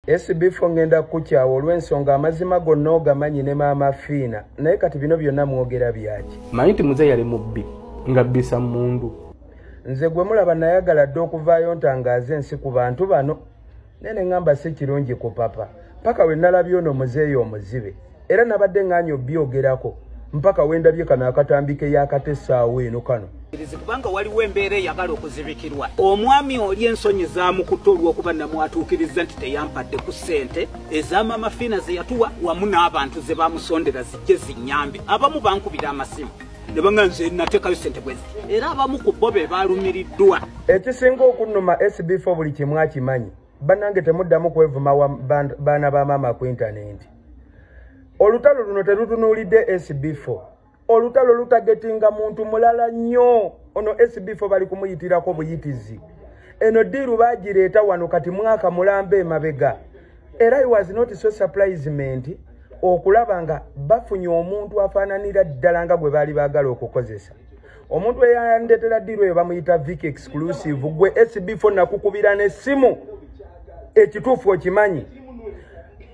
Esibifo ngenda kukyawa olw'ensonga amazima gonna ogamanyi ne maama Fiina naye kati bino byonna mwogera byaki? Manyi nti muze yali mubbi nga bbisa mundu. Nze gwe mulaba nayagala dda okuvaayo ntangaaze ensi ku bantu bano naye ne ngamba si kirungi ku papa paka we nalabye ono muzeeyi omuzibe. era nabadde ng'anyi obyogerako mpaka wendabye kano akatambi ke yakatesaawo eno kano kubanga waliwo embeera eyagala okuzibikirwa omwami oli ensonyi zamukutte olwokuba namwatuukiriza nti teyampadde ku ssente ezamaama fiina zeyatuwa wamu n'abantu ze bamusondera zijje zinyambe abamu bankubira amasimu nebanga nze natekayo sente bwezi era abamu ku bo be balumiriddwa ekisinga okunuma sbfo buli kimu akimanyi banange temuddamu kwevuma baana ba maama ku intanenti olutalo luno terutunuulidde sb4 olutalo lutagetinga muntu mulala nnyo ono sb4 bali kumuyitirako buyitizi eno diiru bagireeta wano kati mwaka mulamba emabega era i was not so surprisement okulaba nga bafunye omuntu afaananira ddala nga gwe baali baagala okukozesa omuntu eyayandetera diru eyo bamuyita vic exclusive gwe sb4 nakukubira nesimu ekituufu okimanyi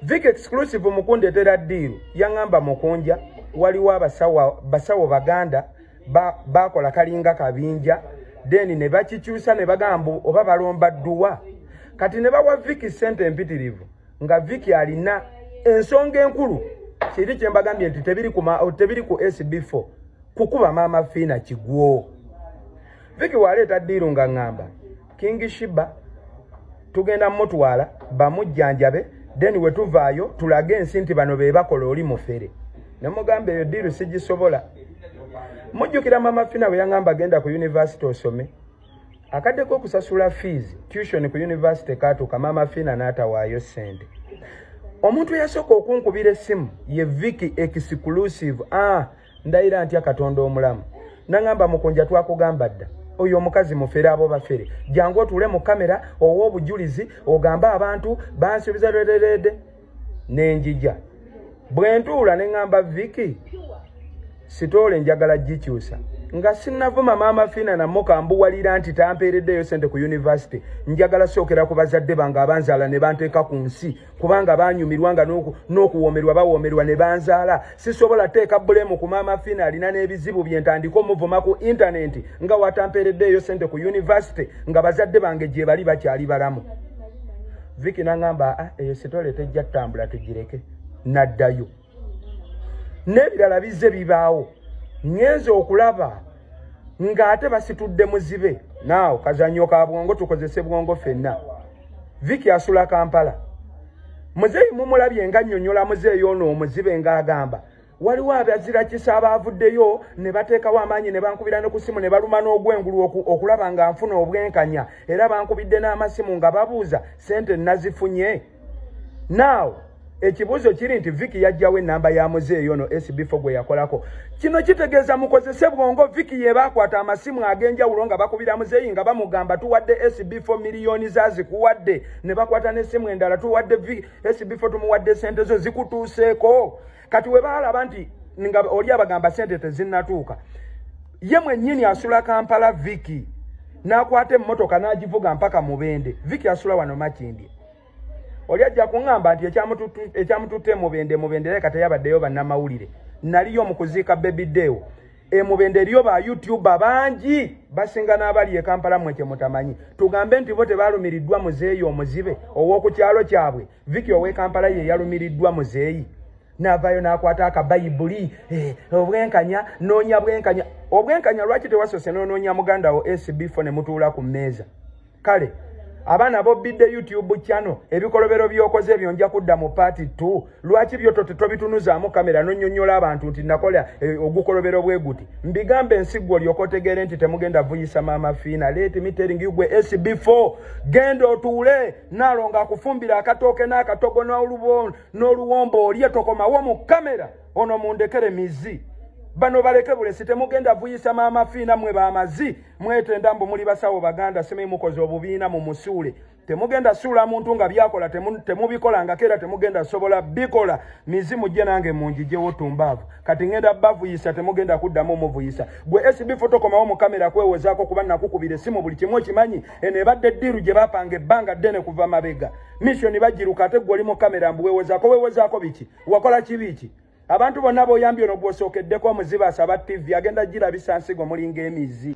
vic exclusive mukundetera diru yaŋamba mukunja waliwo abasawo baganda bakola kalinga kabinja then ne bakikyusa ne bagamba oba balomba dduwa kati ne bawa viki sente empitirivu nga viki alina ensonga enkulu kiri kyembagambye nti tebiri ku sb4 kukuba maama fiina kigwo viki waleeta diiru nga ŋŋamba kingi shiba tugenda mutwala bamujjanjabe then we tuvaayo tulage ensi nti bano be bakola oli mufere ne mugamba eyo diiru sigisobola mujjukira maama fiina bwe yaŋŋamba genda ku yunivasite osome akadde k'okusasula fiizi tution ku yunivasite kaatuuka maama fiina n'atawaayo ssente omuntu eyasooka okunkubira essimu ye viki exclusive a ah, ndayira ntya katonda omulamu nangamba mukunja twakugamba dda oyo omukazi mufere abo bafere jangu otuule mu kamera owa obujulizi ogambe abantu bansubiza lwerereede nenjija bwe ntuula ne ŋŋamba viki sitoola enjagala gikyusa nga sinnavuma maama fiina nammo kambuwalira nti tampeereddeeyo sente ku yunivasite njagala sookera ku bazadde bange abanzaala ne banteeka ku nsi kubanga banyumirwa nga n'okuwoomerwa bawoomerwa ne banzaala sisobola teeka bulemu ku maama fina alina n'ebizibu bye ntandika omuvuma ku intanenti nga watampeereddeeyo sente ku yunivasite nga bazadde bange gye bali bakyali balamu viki nangamba ah, eyo sitole tejja ttambula tugireke naddayo n'ebirala bizze bibaawo ŋŋenze okulaba ng'ate basitudde muzibe naawo kazannyo ka bwongo tukozese bwongo fenna viki asula kampala muzeeyi mumulabye nga nnyonnyola muzeeyi ono omuzibe ng'agamba waliwo abazirakisa abaavuddeyo ne bateekawo amaanyi ne bankubira ne ku ssimu ne baluma n'ogwengulu okulaba nga nfuna obwenkanya era bankubidde n'amasimu nga babuuza ssente nazifunye now ekibuzo kiri nti viki yajjawo enamba ya muzeeyi ono sbfo gwe yakolako kino kitegeeza mukozese bwongo viki yebaakwata amasimu ag'enjawulo nga bakubira muzeeyi nga bamugamba tuwadde sbfo miliyoni za zikuwadde ne bakwata n'essimu endala tuwadde sbfo tumuwadde sente zo zikutuuseeko kati we baalaba nti nga oli abagamba sente tezinnatuuka ye mwennyini asula kampala viki n'akwata emmotoka n'agivuga mpaka mubende viki asula wano makindye oli ajja kuŋŋamba nti ekyamututte mubende mubende leka teyabaddeyo bannamawulire naliyo mu kuziika bebideewo emubende eriyo ba youtuba bangi basinga n'abali e kampala mwe kye mutamanyi tugambe nti bo tebaalumiriddwa muzeeyi omuzibe ow'oku kyalo kyabwe Vicky ow'e Kampala ye yalumiriddwa muzeeyi n'avaayo n'akwata akabayibuli eh, obwenkanya noonya bwenkanya obwenkanya lwaki tewasoose n'onoonya muganda wo sbfo ne mutuula ku mmeeza kale abaana bobbidde youtube channel ebikolobero by'okoze ebyo nja kudda mu paati t lwaki byo tobitunuzaamu kamera nonyonyola abantu nti nakola eh, ogukolobero bwe guti mbigambe ensiggwa olyoka otegeere nti temugenda vuyisa maama fiina let me telling you gwe sbfo genda otuule nalonga akufumbira akatooke n'akatogo n'oluwombo olye tokomawo mu kamera ono mundekere mizi bano baleke bulesi temugenda vuyisa maama fiina mwe bamazi mwetenda mbu muli basawo baganda simi mukoze obubiina mu musuule temugenda suula muntu nga byakola temubikolangako era temugenda sobola bikola mizi mujje nange munjijewo tumbaavu kati ngenda bavuyisa temugenda kuddamu muvuyisa gwe sb fotokomawo mu kamera kwewozaako kuba nakukubira esimu buli kimu okimanyi eno ebadde ddiiru gye bapanga ebbanga ddene kuva mabega misiyoni bagiruka ate gwe oli mu kamera mbu wewozaako wewozaako biki wakola kibi ki abantu bonna boyambye ono gwosookeddeko omuzibaasa ba ttivi agenda girabisa nsigo mulinga emizi